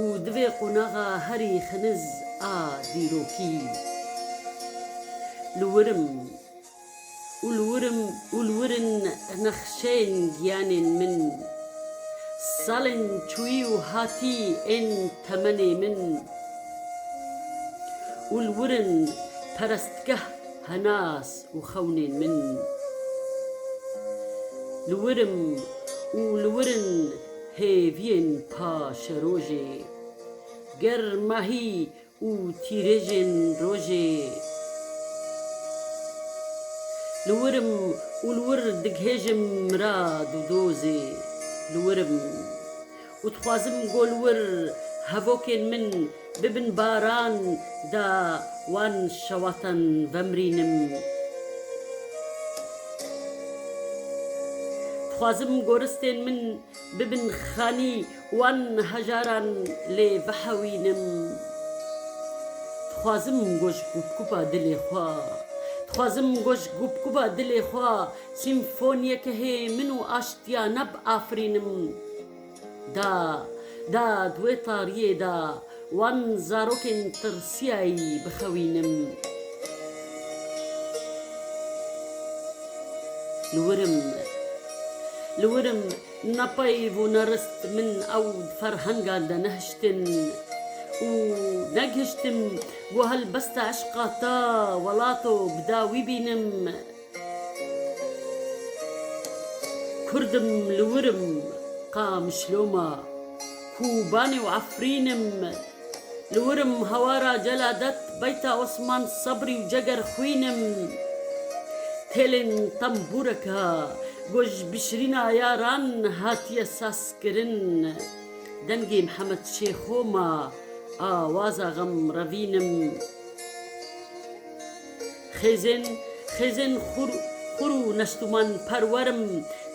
Û divê qonaxa herî xiniz a dîrokî li wirim û li wirim û li wirin nexşeyên giyanên min, salên çûyî û hatî ên temenê min û li wirin perestgeh henas û xewnên min, li wirim û li wirin Hêviyên paşerojê. Ger mahî û tîrêjên rojê. Li wir im û li wir dighêjim mirad û dozê. Li wir im û dixwazim ku li wir hevokên min. Bi bin baran da wan şewatan vemrînim. Dixwazim goristên min bibin xanî wan hejaran lê vehewînim. Dixwazim goj gupgupa dilê xwe Dixwazim goj gupgupa dilê xwe sîmfoniyeke hê min û aştiya nab afirînim. Da, da di wê tariyê da wan zarokên tirsiyayî bixewînim. Li wirim, li wirim ne peyv û ne rist min ew di ferhengan de nehiştin û negihiştim ku helbesta eşqa te welato bi dawî bînim. Kurd im li wir im Qamişloma Kûbanê û Efrîn im Li wir im hawara Celadet Beyta Osman Sebrî û Ceger Xwîn im Têlên tembûreke ku ji bişirîna yaran hatiye sazkirin Dengê Mihemed Şêxo ma Awaza Xemrevîn im. Xêzên, xêzên xur, xur û nestûman perwer im,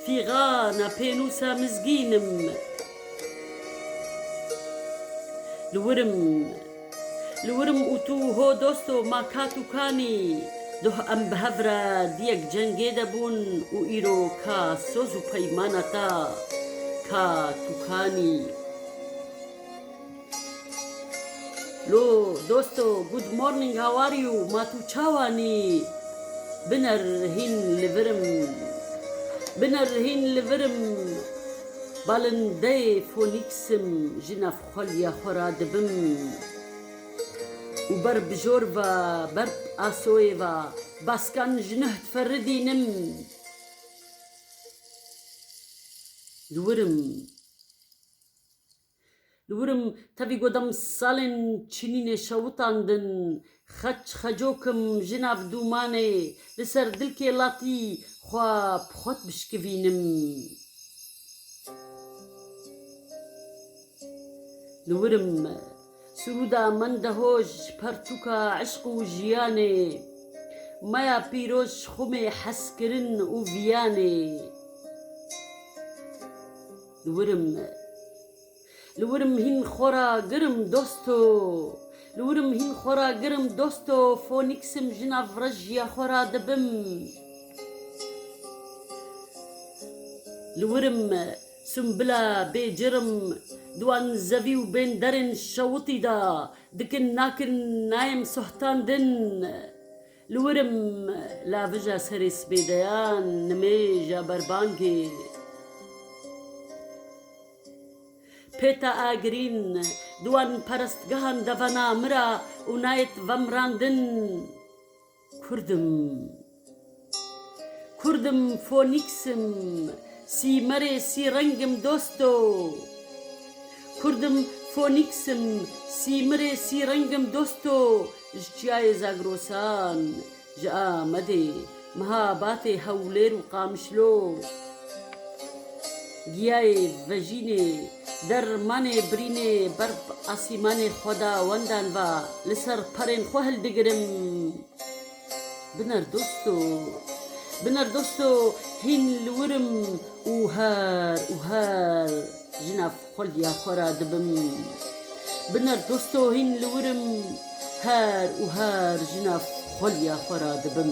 fîgana pênûsa mizgîn im. Li wir im, li wir im û tu ho dost o ma kat û kanî. Duh em bi hev re di yek cengê de bûn û îro ka soz û peymana ta, kat û kanî. Lo dosto good morning how are you ma tu çawanî biner hîn li virim biner hîn li virim balindeyê fonîksim ji navxweliya xwe ra dibim û ber bijor ve ber asoyê ve baskan ji nuh diferidînim li virim. Li wirim tevî got em salên çinînê şewitan din, xeç xecok im jina bi dûmanê li ser dilkê latî xwe bi xwe dibişkivînim. Li wirim sirûda Mendehoj pertûka eşq û jiyanê, maya pîroz xumê hezkirin û viyanê. Li wirim Li wirim hîn xwe ra girim dosto Li wirim hîn xwe ra girim dosto Fonîksim ji nav rejiya xwe ra dibim Li wirim Sumbila bê cirim Diwan zevî û bên derên şewitî da Dikin nakin nayêm sohtandin. Li wir im lavija serê sibê de ya nimêja berbangê Pêta Agirîn di wan perestgehan de vena min ra û nayet vemrandin Kurd im, Kurd im, Fonîks im, Sîmerê sî reng im dosto Kurd im, Fonîks im, Sîmerê sî reng im dosto Ji Çiyayê Zagrosan, ji Amedê, Mihabatê, Hewlêr û Qamişlo, Giyayê, Vejînê, Dermanê, Birînê, Berf, Asîmanê xwe da wendan va, li ser perên xwe hildigirim. Biner dosto, biner dosto, hîn li wir im û her û her ji nav. Xulya xwe ra dibim bi nerdosto hîn li wir im her û her jina xulya xwe ra dibim.